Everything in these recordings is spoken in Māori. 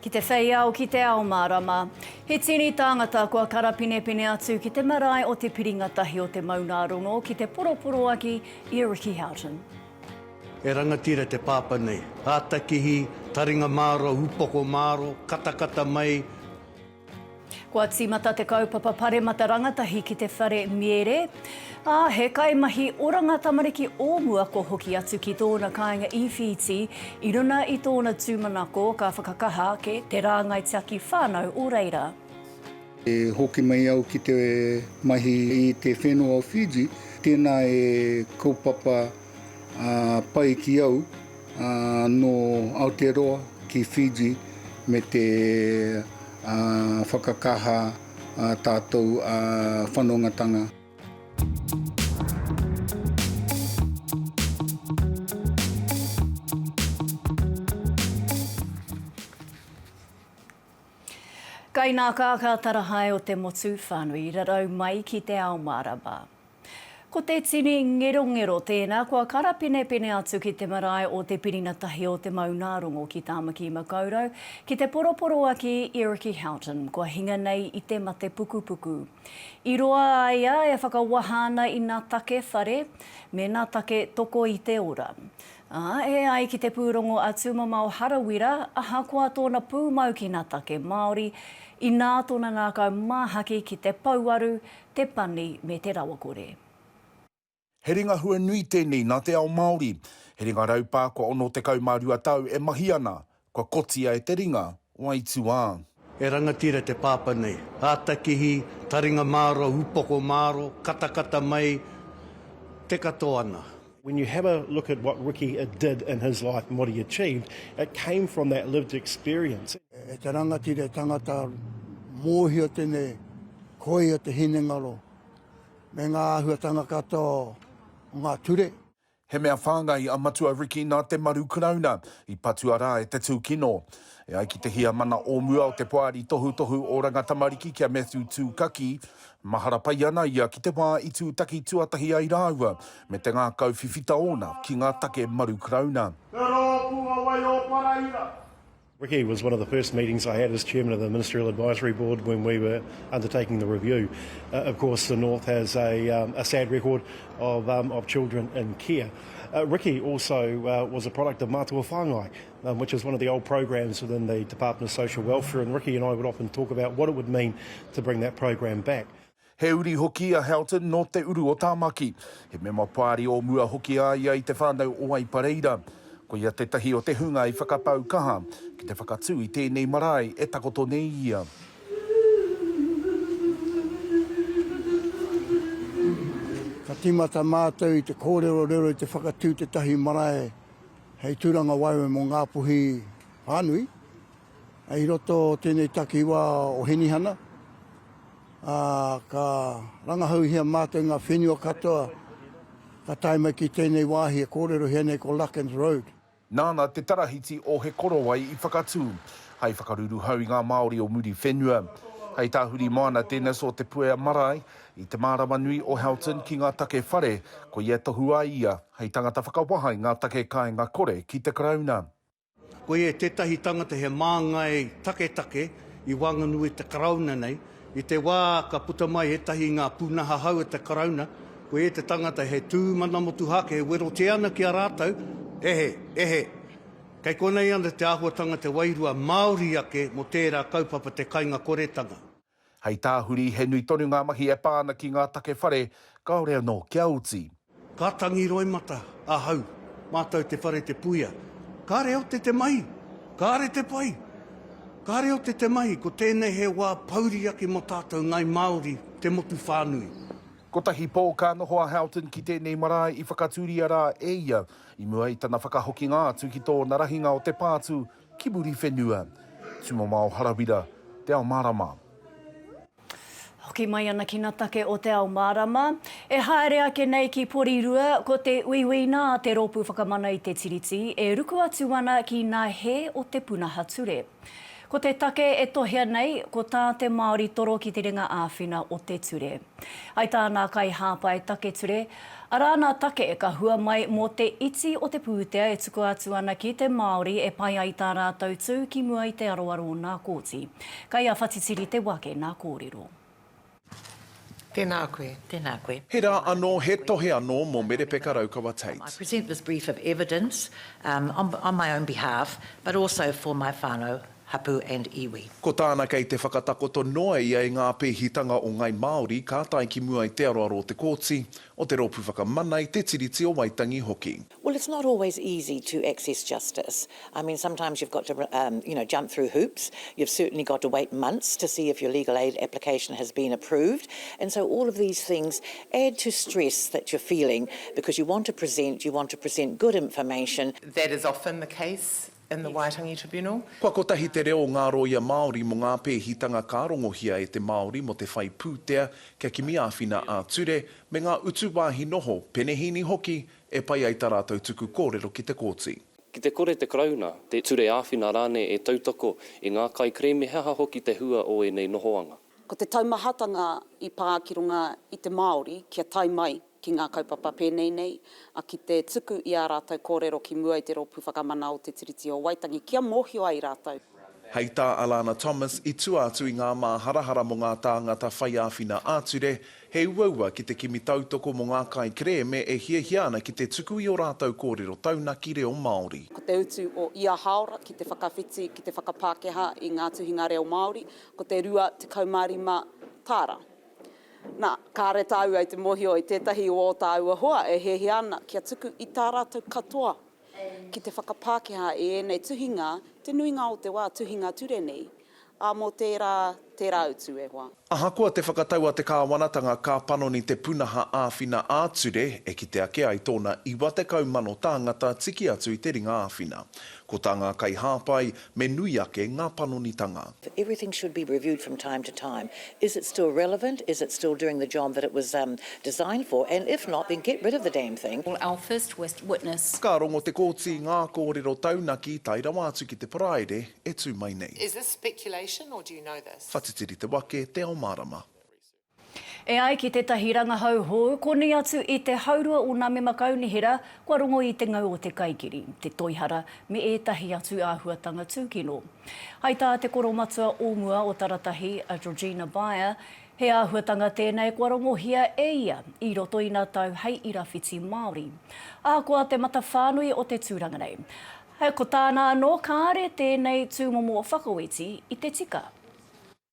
Ki te whei ao, ki te ao mārama. He tini tāngata kua karapinepine atu ki te marae o te piringa tahi o te maungārongo ki te poroporoaki i a Ricky Houghton. He rangatira te pāpā nei. Ātakihi, taringa māro, upoko māro, katakata mai. Kua tīmata te kaupapa Paremata Rangatahi ki te whare Miere, ā, he kaimahi oranga tamariki o mua kua hoki atu ki tōna kāinga i Whītī i runa i tōna tūmanako ka whakakaha ake te rāngai tiaki whānau o reira. E hoki mai au ki te mahi i te whenua o Fiji, tēnā e kaupapa. pai ki au nō Aotearoa ki Fiji me te whakakaha a tātou whanongatanga. Kainakākā tarahae o te motu whānui rarau mai ki te ao mārama. Ko te tini ngerongero tēnā kua karapenepene atu ki te marae o Te Pirina Tahi o Te Maungārongo ki Tāmaki Makaurau, ki te poroporoaki i Ricky Houghton, kua hinga nei i te mate pukupuku. I roa a ia e whakawaha ana i nā take whare me nā take toko i te ora. Ā, e ai ki te pūrongo a Tūmamao Harawira, ahakoa tōna pūmau ki nā take Māori, inā tōna ngākau māhaki ki te pouaru te pani me te rawakore. He ringa hua nui tēnei nā te ao Māori. He ringa raupā kua 62 tau e mahi ana, kua kotia e te ringa o aituā. He rangatira te pāpā nei. Ātakihi, taringa māro, upoko māro, katakata mai, te katoa ana. When you have a look at what Ricky did in his life and what he achieved, it came from that lived experience. E te rangatira, e tangata, mōhio tēnei koia te hinengaro me ngā āhuatanga katoa o ngā ture. He mea whāngai a Matua Ricky nā te maru Karauna i patua rā e te tūkino. E ai ki te Heamana o mua o te Poari Tohutohu Oranga Tamariki ki a Matthew Tūkaki, mahara pai ana ia ki te wā i tūtaki tuatahi ai rāua me te ngākau whiwhita ōna ki ngā take maru Karauna. Te Rōpū a Waioparaira. Ricky was one of the first meetings I had as chairman of the Ministerial Advisory Board when we were undertaking the review. Uh, of course, the North has a, um, a sad record of, um, of children in care. Uh, Ricky also uh, was a product of Matua Whangai, which is one of the old programs within the Department of Social Welfare and Ricky and I would often talk about what it would mean to bring that program back. He uri hoki a Houghton nō Te Uru o Tāmaki. He mema Pāri o mua hoki a ia i Te Whānau o Aipareira. Ko ia tētahi o te hunga i whakapau kaha ki te whakatū i tēnei marae e takoto nei ia. Ka tīmata mātou i te kōrerorero i te whakatū tētahi marae Hei tūranga waewae mō Ngāpuhi whānui, i roto o tēnei takiwā o Hinihana, ka rangahauhia mātou ngā whenua katoa ka tae mai ki tēnei wāhi e kōrerohia nei ko Larkins Road. Nāna te Tarahiti o He Korowai i whakatū, hai whakaruruhau i ngā Māori o Muriwhenua. Hei tahuri moana tēnei so Te Puea Marae, I te mārama nui o Houghton ki ngā take whare, ko ia e tohu ai ia hei tangata whakawaha i ngā take kāinga kore ki te Karauna. Ko ia tētahi tangata he māngai taketake i waenganui i te Karauna nei. I te wā ka puta mai ētahi i ngā pūnaha hou o te Karauna, ko ia te tangata he tū mana motuhake e werotia ana ki a rātou, Ehe, ehe, kei konei ana te āhuatanga te wairua Māori ake mō tērā kaupapa te kainga koretanga. Hei tāhuri, he nui tonu ngā mahi e pā ana ki ngā take whare, kāore anō kia oti. Ka tangi roimata ahau, mātou te whare te puia. Kāre ote te mahi? Kāre te pai! Kāre ote te mahi, ko tēnei he wā pouri ake mō tātou Ngāi Māori, te motu whānui. Kotahi pō ka noho a Houghton ki tēnei marae i whakatūria rā e ia, i mua i tana whakahokinga atu ki tōna rahinga o te pātū Ki muri whenua. Tumamao Harawira, Te Ao Marama. Hoki mai ana ki na take o Te Ao Marama. E haere ake nei ki Porirua, ko te uiuina a te Ropu Whakamana i te Tiriti e ruku atu ana ki na he o te punaha ture. Ko te take e tohea nei, ko ta te Maori toro ki te ringa awhina o te ture. Ai tā nā kaihāpai take ture, arā nā take ka hua mai mō te iti o te pūtea e tukua atu ana ki te Māori e pai ai tā rātou tū ki mua i te aroaro o nā kōti. Kai a Whatitiri te wake nā kōrero. Tēnā koe. Tēnā koe. He rā anō, he tohe anō mō Merepeka Raukawa Tate. I present this brief of evidence on my own behalf but also for my whānau Hapu and Iwi. Ko tāna kei te whakatakoto noa ia i ngā pēhitanga o Ngai Māori ka tae ki mua i te aroaro o te Kōti, o te Rōpū Whakamana, i te Tiriti o Waitangi hoki. Well it's not always easy to access justice, I mean sometimes you've got to you know jump through hoops, you've certainly got to wait months to see if your legal aid application has been approved and so all of these things add to stress that you're feeling because you want to present, you want to present good information, that is often the case in the Waitangi Tribunal. Kua kotahi te reo o ngā rōia Māori mō ngā pēhitanga ka rongohia e te Māori mō te whai pūtea kia kimi āwhina ā-ture me ngā utu wāhi noho, penehīni hoki, e pai ai tā rātou tuku kōrero ki te kōti. Ki te kore te Karauna, te Ture Āwhina rānei e tautoko i ngā kaikerēme he aha hoki te hua o ēnei nohoanga. Ko te taumahatanga i pā ki runga i te Māori kia tae mai ki ngā kaupapa pēnei nei, a, ki te tuku i ā rātou kōrero ki mua i te Rōpū Whakamana o Te Tiriti o Waitangi kia mōhio ai rātou. Hei tā Alana Thomas, i tua atu i ngā māharahara mō ngā tāngata whai āwhina ā-ture, he uaua ki te kimi tautoko mō ngā kaikerēme e hiahia ana ki te tuku i ō rātou kōrero taunaki reo Māori. Ko te utu o ia hāora ki te whakawhiti, ki te whakapākehā i ngā tuhinga reo Māori, Ko te rua tekau mā rima tāra. Nā, kāre tāua i te mōhio i tētahi o ō tāua hoa e hiahia ana kia tuku i tā rātou katoa ki te whakapākehā i ēnei tuhinga te nuinga o te wā, tuhinga ture nei, ā, mō tērā, tērā utu e hoa. Ahakoa te whakatau a te kāwanatanga ka panoni te punaha āwhina ā-ture e kite ake ai tōna 90 mano tāngata tiki atu i te ringa āwhina. Ko tā ngā kaihāpai, Me nui ake ngā panonitanga. Everything should be reviewed from time to time. Is it still relevant? Is it still doing the job that it was designed for? And if not, then get rid of the damn thing. Or our first witness. Ka rongo Te Kooti i ngā kōrero taunaki tae rawa atu ki te Paraire e tū mai nei. Is this speculation or do you know this? Whatitiri te wake, te ao mārama. E ai ki tētahi rangahau hou, konei atu i te haurua o nā mema kaunihera kua rongo i te ngau o te kaikiri, te toihara me ētahi atu āhuatanga tūkino. Hai tā te koromatua o mua o Taratahi, a Georgina Beyer, he āhuatanga tēnei kua rongohia e ia i roto i nā tau hei ira whiti Māori. Ahakoa te matawhānui o te tūranga nei, ko tāna anō kāre tēnei tūmomo whakaoti i te tika.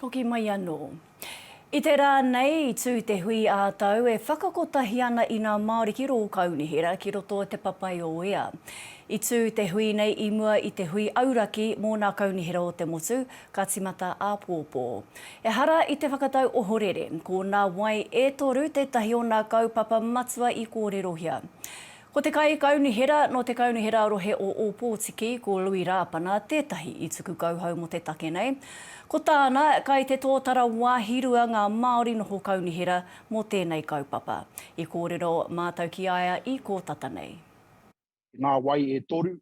Hoki mai anō. I te rā nei i tū te hui ā-tau e whakakotahi ana i ngā Māori ki rō kaunihera ki roto o Te Papaioea. I tū te hui nei i mua i te hui auraki mō ngā kaunihera o te motu ka timata āpōpō. Ehara i te whakatau ohorere, ko ngā wai e toru tētahi o ngā kaupapa matua i kōrerohia. Ko te Kaikaunihera nō te Kaunihera Rohe o Ōpōtiki, ko Lui Rāpana tētahi i tuku kauhau mō te take nei. Ko tāna, kai te tōtara wāhirua ngā Māori noho kaunihera mō tēnei kaupapa. I kōrero mātou ki a ia i kō tata nei. Ngā wai e toru,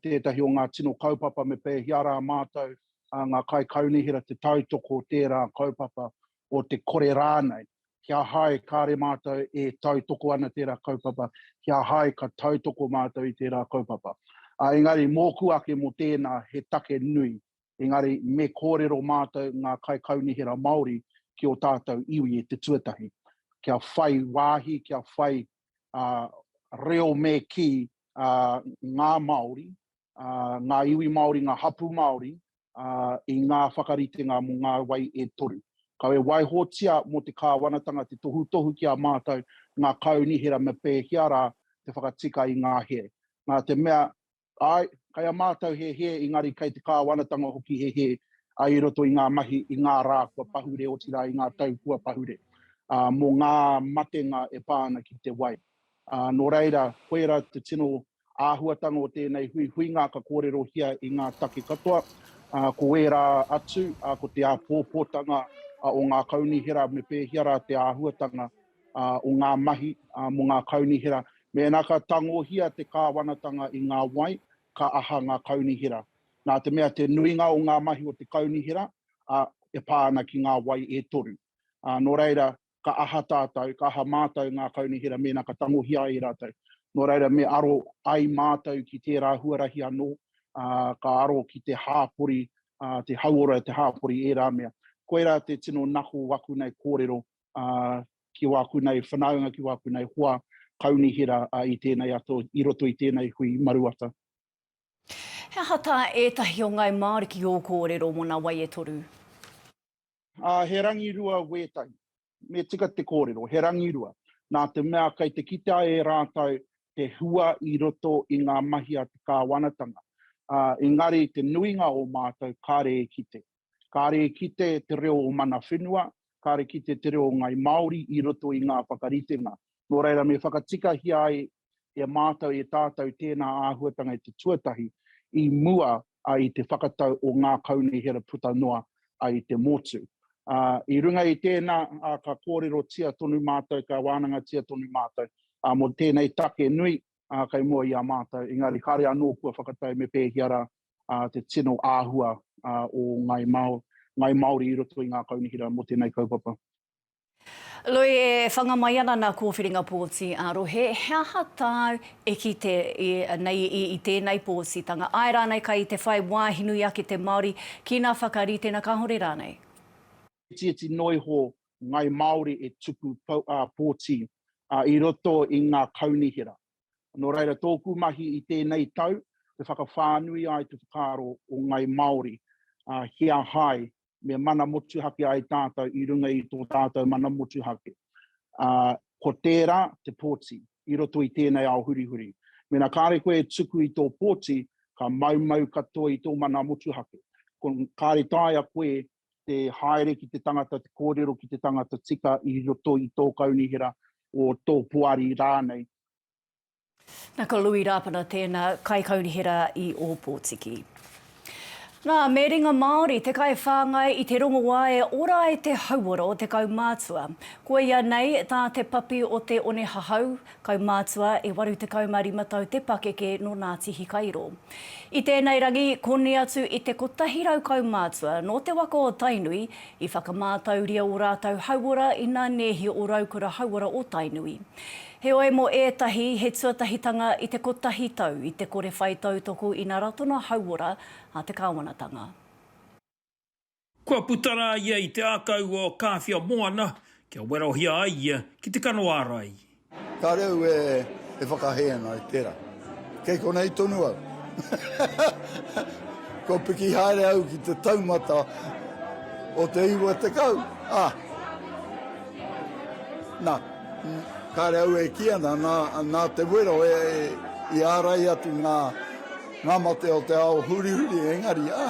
tētahi o ngā tino kaupapa me pēhea rā mātou, ngā kaikaunihera te tautoko o tērā kaupapa, o te kore rānei, kia hai kāre mātou e tautoko ana tērā kaupapa, kia hai ka tautoko mātou i tērā kaupapa. Engari mōku ake mō tēnā he take nui, engari me kōrero mātou ngā kaikaunihera Māori ki o tātou iwi e te tuatahi, kia whai wāhi, kia whai uh, reo me ki uh, ngā Māori, uh, ngā iwi Māori, ngā hapu Māori, uh, i ngā whakaritenga mō ngā wai e toru. Kau e waihotia mō te kāwanatanga te tohutohu ki a mātou ngā kaunihera me pēhea rā te whakatika i ngā here. Nā te mea, Āe, kai a mātou he hē engari kai te Kāwanatanga hoki he hē i roto i ngā mahi i ngā rā kua pahure otirā i ngā tau kua pahure, ā, mō ngā matenga e pā ana ki te wai. Ā, nō reira, koirā te tino āhuatanga o tēnei huihuinga ka kōrerohia i ngā take katoa, ā, ko ērā atu, ā, ko te āpōpōtanga o ngā kaunihera me pēhea rā te āhuatanga o ngā mahi mō ngā kaunihera. Mēnā ka tangohia te kāwanatanga i ngā wai, ka aha ngā kaunihera. Nā te mea te nuinga o ngā mahi o te kaunihera e pā ana ki ngā wai e toru. Nō reira, ka aha tātou, ka aha mātou ngā kaunihera mēnā ka tangohia ai e rātou. Nō reira, me aro ai mātou ki tērā huarahi anō, ka aro ki te hāpori, te hauora, te hāpori, ērā mea. Koirā te tino nako o aku nei kōrero ki wāku nei whanaunga, ki wāku nei hoa kaunihera i tēnei ato, i roto i tēnei hui maruata. He aha tā ētahi o Ngāi Māori ki ō kōrero mō nā wai e toru? He rangirua wētahi. Me tika te kōrero, he rangirua. Nā te mea kei te kitea e rātou te hua i roto i ngā mahi a te kāwanatanga. Engari te nuinga o mātou kāre e kite. Kāre e kite te reo o Mana Whenua, kāre kite te reo o Ngāi Māori i roto i ngā whakaritenga. Nō reira, me whakatikahia ai e mātou, e tātou tēnā āhuatanga e te tuatahi i mua i te whakatau o ngā kaunihera puta noa i te motu. I runga i tēnā, ka kōrerotia tonu mātou, ka wānangatia tonu mātou mō tēnei take nui kei mua i a mātou, engari kāre anō kua whakatau me pēhea rā te tino āhua o Ngāi Māori i roto i ngā kaunihera mō tēnei kaupapa. Lui, e whanga mai ana nā Kōwhiringa Pōti ā-Rohe, he aha tāu e kite nei i tēnei pōtitanga, āe rānei kai te whai wāhi nui ake te Māori ki nā whakaritenga kāore rānei? He itiiti noa iho Ngāi Māori e tuku pōti i roto i ngā kaunihera. Nō reira, tōku mahi i tēnei tau, te whakawhānui ai te whakaaro o Ngai Māori, ā, ki a hai me mana motuhake ai tātou i runga i tō tātou mana motuhake. Ā, ko tērā te pōti i roto i tēnei ao hurihuri. Mēnā kāre koe e tuku i tō pōti, ka maumau katoa i tō mana motuhake. Ko, kāre taea koe te haere ki te tangata, te kōrero ki te tangata tika i roto i tō kaunihera, o tō poari rānei. Na ko Lui Rapana tēna kaikaunihera i Ōpōtiki. Na, me ringa Māori te kaiwhāngai i te rongoā e ora ai te hauora o te kaumātua. Koia nei tā te papi o te one hahau, Kaumātua, e 85 tau te pakeke nō Ngāti Hikairo. I tēnei rangi, koni atu i te 100 kaumātua nō te waka o Tainui, i whakamātauria ō rātou hauora ina nēhi ō Raukura Hauora o Tainui. Heoi, mō ētahi, he tuatahitanga i te kotahi tau i te kore whai tautoko i ngā ratonga hauora a te kāwanatanga. Kua puta rā ia i te ākau o Kāwhia Moana kia werohia ai ia ki te kano ārai. Ka reu e whakahē ana i tērā. Kei konei tonu au. Kua piki haere au ki te taumata o te iwa tekau, ā. Nā, kāre au e kī ana, nā, nā te wero e, i ārai atu ngā, ngā mate o te ao hurihuri, engari, ā.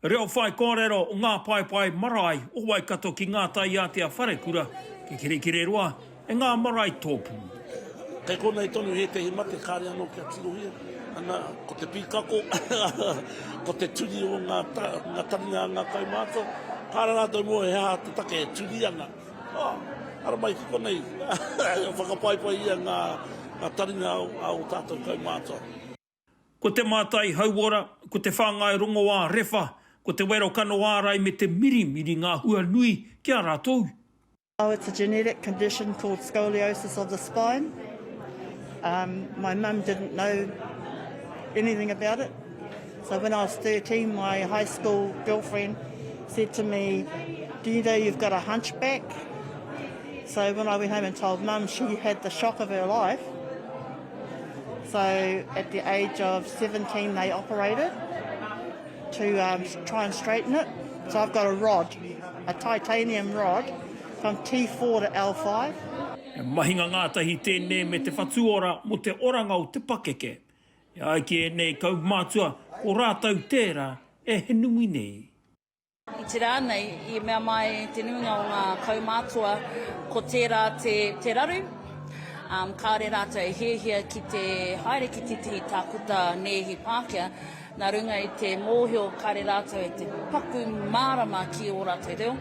Reo whai kōrero o ngā paepae marae o Waikato ki ngā taiātea wharekura, ki Kirikiriroa, e ngā marae tōpū. Kei konei tonu ētehi mate kāre anō kia tirohia, ana, ko te pīkako, ko te turi o ngā taringa a ngā kaumātua, kāre rātou mō he aha te take e turi ana. Oh, ara mai ki konei, whakapaipaihia ngā taringa a ō tātou kaumātua. Ko te mātai hauora, ko te whāngai rongoā rewha, ko te wero kano ārai me te mirimiri ngā hua nui ki a rātou. Oh it's a genetic condition called scoliosis of the spine um my mum didn't know anything about it so when I was 13 my high school girlfriend said to me do you know you've got a hunchback so when I went home and told mum she had the shock of her life. So at the age of 17 they operated to um, try and straighten it. So I've got a rod, a titanium rod from T4 to L5. He mahinga ngātahi tēnei me te whatuora mo te oranga o te pakeke. E ai ki ēnei kaumātua, ko rātou tērā e he nui nei. I te rā nei, i mea mai te nuinga o ngā kaumātua ko tērā te, te raru, ā, kāore rātou e hiahia ki te haere ki tētahi tākuta nēhi Pākehā, nā runga i te mōhio kāore rātou e te paku mārama ki ō rātou reo.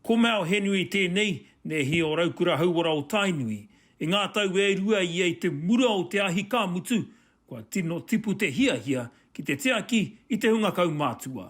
Ko Mao Henry tēnei, nēhi o Raukura Hauora o Tainui. I ngā tau e rua ia i te mura o te ahi ka mutu, kua tino tipu te hiahia ki te tiaki i te hunga kaumātua.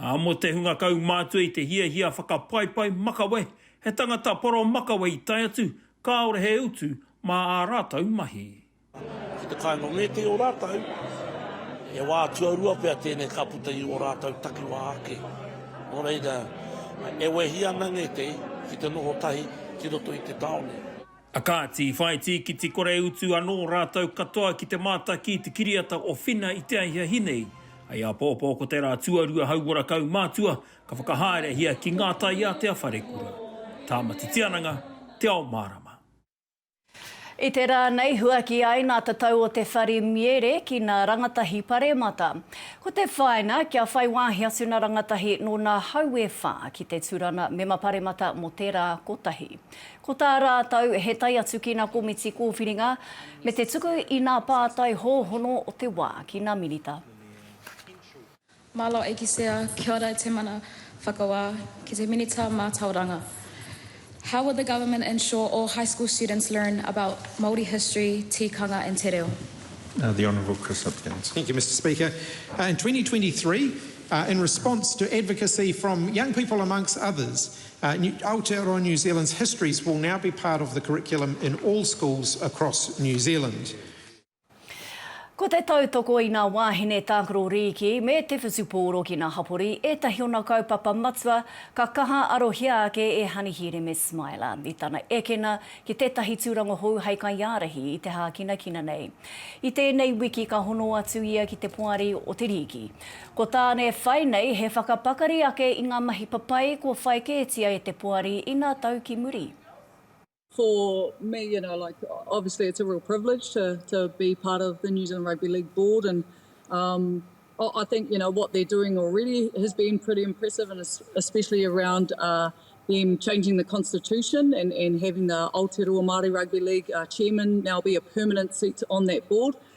Ā, mō te hunga kaumātua i te hiahia whakapaipai makawe, he tangata poro makawe i tae atu, kāore he utu mā ā rātou mahi. Ki te kāinga o ngētehi o rātou, he wā tuarua pea tēnei ka puta i ō rātou takiwā ake. Nō reira, e wehi ana ngētehi ki te noho tahi ki roto i te tāone. A kāti, i whai tīkiti kore utu anō rātou katoa ki te mātaki i te kiriata o Whina i te ahiahi nei. Hei apōpō ko tērā tuarua hauora kaumātua ka whakahaerehia ki ngā taiātea wharekura, Tāmati Tiananga, Te Ao Mārama. I te rā nei huaki ai nā te tau o te whare miere ki nā rangatahi paremata. Ko te whāinga, kia whai wāhi atu nā rangatahi nō nā hau e whā ki te turana mema paremata mō te rā kotahi. Ko tā rātou he tae atu ki nā komiti kōwhiringa me te tuku i nā pātai hōhono o te wā ki nā Minita. Malo Aikisea, Kia ora e te Mana Whakawā, ki te Minita Mātauranga. How will the government ensure all high school students learn about Māori history, tikanga and te reo? The Honourable Chris Hipkins. Thank you, Mr Speaker. In 2023, in response to advocacy from young people amongst others, Aotearoa New Zealand's histories will now be part of the curriculum in all schools across New Zealand. Ko te tautoko i ngā wāhine tākaro rīki me te whutupōro ki ngā hapori ētahi ōna kaupapa matua ka kaha arohia ake e Hanihiireme Smiler i tana ekena ki tētahi tūranga hou hei kaiārahi i te hākinakina nei. I tēnei wiki ka hono atu ia ki te Poari o te Rīki. Ko Tāne whai nei he whakapakari ake i ngā mahi papai kua whai kētia e te poari ina tau ki muri. For me you know like obviously it's a real privilege to to be part of the New Zealand Rugby League board and um I I think you know what they're doing already has been pretty impressive and especially around uh them changing the constitution and and having the Aotearoa Māori Rugby League uh chairman now be a permanent seat on that board.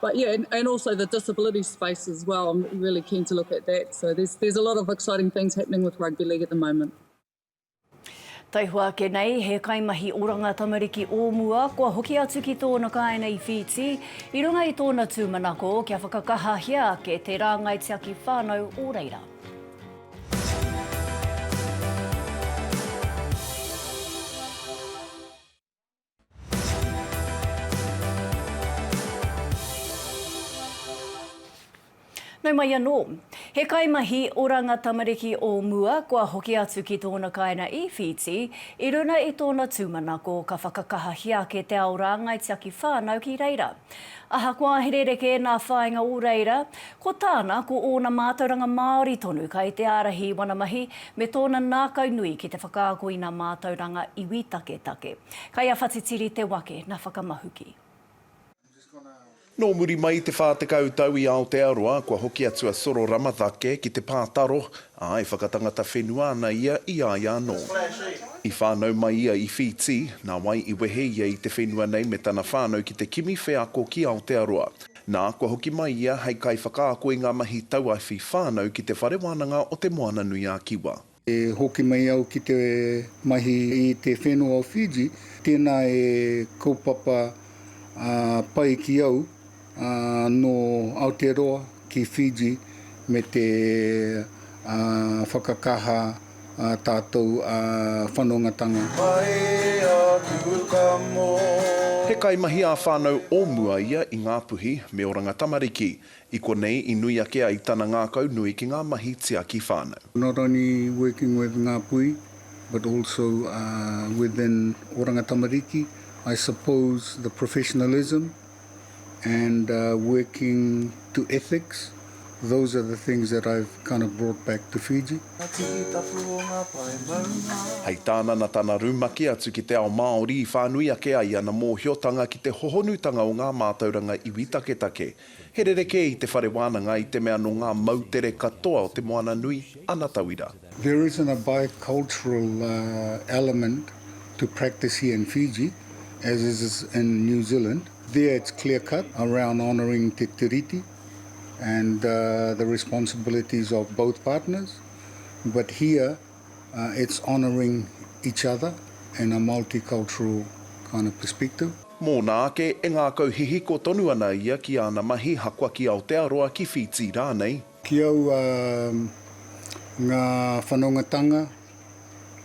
But yeah, and, and also the disability space as well, I'm really keen to look at that. So there's, there's a lot of exciting things happening with rugby league at the moment. Taihoa ake nei, he kaimahi oranga tamariki o mua kua hoki atu ki tōna kāinga i Whītī i runga i tōna tūmanako kia whakakahahia ake te rāngai tiaki whānau o reira. Nau mai anō. He kaimahi oranga tamariki o mua kua hoki atu ki tōna kāinga i Whītī, i runa i tōna tūmanako ka whakakahahia ake te ao rāngai tiaki whānau ki reira. Ahakoa he rerekē nā whāinga o reira, Ko tāna, ko ōna mātauranga Māori tonu kai te ārahi i wana mahi, me tōna nākau nui ki te whakaako i nā mātauranga iwi taketake. Kai a Whatitiri te wake na whakamahuki. Nō muri mai i te whā tekau tau i Aotearoa, kua hoki atu a Soro Ramatake ki te pā taro, ā, e whakatangata whenua ana ia i a ia anō. I whānau mai ia i Whītī, nā wai i wehe ia i te whenua nei me tana whānau ki te kimi wheako ki Aotearoa. Nā, kua hoki mai ia hei kaiwhakaako i ngā mahi tauawhi whānau ki Te Whare Wānanga o Te Moana-nui-a-Kiwa. E hoki mai au ki te mahi i te whenua o Fiji, tēnā e kaupapa pai ki au, nō Aotearoa ki Fiji me te whakakaha. ā tātou whanongatanga. Pai aku ka mō. He kaimahi ā-whānau o mua ia i Ngā Puhi me Oranga Tamariki. I konei i nui ake ai tana ngākau nui ki ngā mahi tiaki whānau. Not only working with Ngā Puhi but also within Oranga Tamariki, I suppose the professionalism, and working to ethics, those are the things that I've kind of brought back to Fiji. Hei tāna na tana rumaki atu ki te ao Māori i whānui ake ai ana mōhiotanga ki te hohonutanga o ngā mātauranga iwi taketake. He rerekē i te whare wānanga i te mea nō ngā moutere katoa o Te Moananui ana tauira. There isn't a bicultural element to practice here in Fiji as is in New Zealand. There it's clear cut around honouring te tiriti and the responsibilities of both partners but here it's honouring each other in a multicultural kind of perspective. Mōna ake, e ngākau hihiko tonu ana ia ki āna mahi haka ki Aotearoa, ki Whītī rānei. Ki aua ngā whanongatanga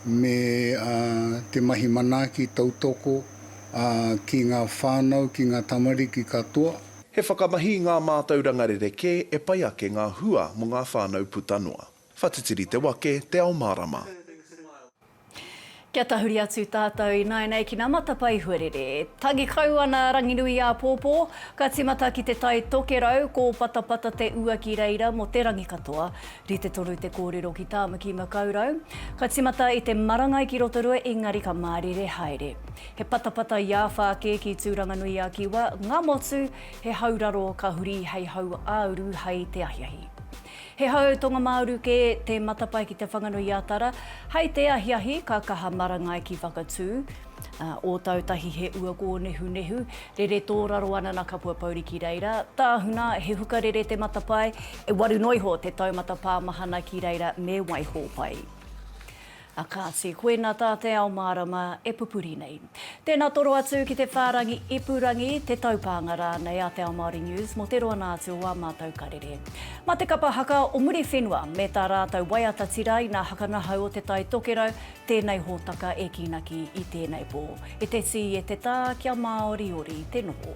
me te mahi manaaki tautoko ki ngā whānau, ki ngā tamariki katoa. He whakamahi i ngā mātauranga rerekē e pai ake ngā hua mō ngā whānau puta noa. Whatitiri te wake, te ao mārama. Kia tahuri atu tātou ināianei ki nā matapae huarere. Tangi kau ana Ranginuiāpōpō, ka tīmata ki te Tai Tokerau, ko Patapata te ua ki reira mō te rangi katoa. Rite tonu te kōrero ki Tāmaki Makaurau. Ka tīmata i te marangai ki Rotorua engari ka mārire haere. He patapata iāwhā kē ki Tūranganui-a-Kiwa, ngā motu, he hau raro ka huri hei hau ā-uru hai te ahiahi. He hau tonga-mā-uru kē te matapae ki Te Whanganui-a-Tara. Hei te ahiahi, ka kaha marangai ki Whakatū. Ōtautahi he ua kōnehunehu, rere tōraro ana nā Kapua Pouri ki reira. Tāhuna, he hukarere te matapae, e waru noa iho te taumata pāmahana ki reira me waiho pai. A Kāti, koina tā te ao mārama e pupuri nei. Tēnā toro atu ki te whārangi ipurangi, te taupānga rānei a Te Ao Māori News mō te roanga atu o ā mātou karere. Mā te kapa haka o Muriwhenua me tā rātou waiata tiraina haka ngahau o Te Tai Tokerau tēnei hōtaka e kīnaki i tēnei pō. E te tī, e te tā, kia māoriori te noho.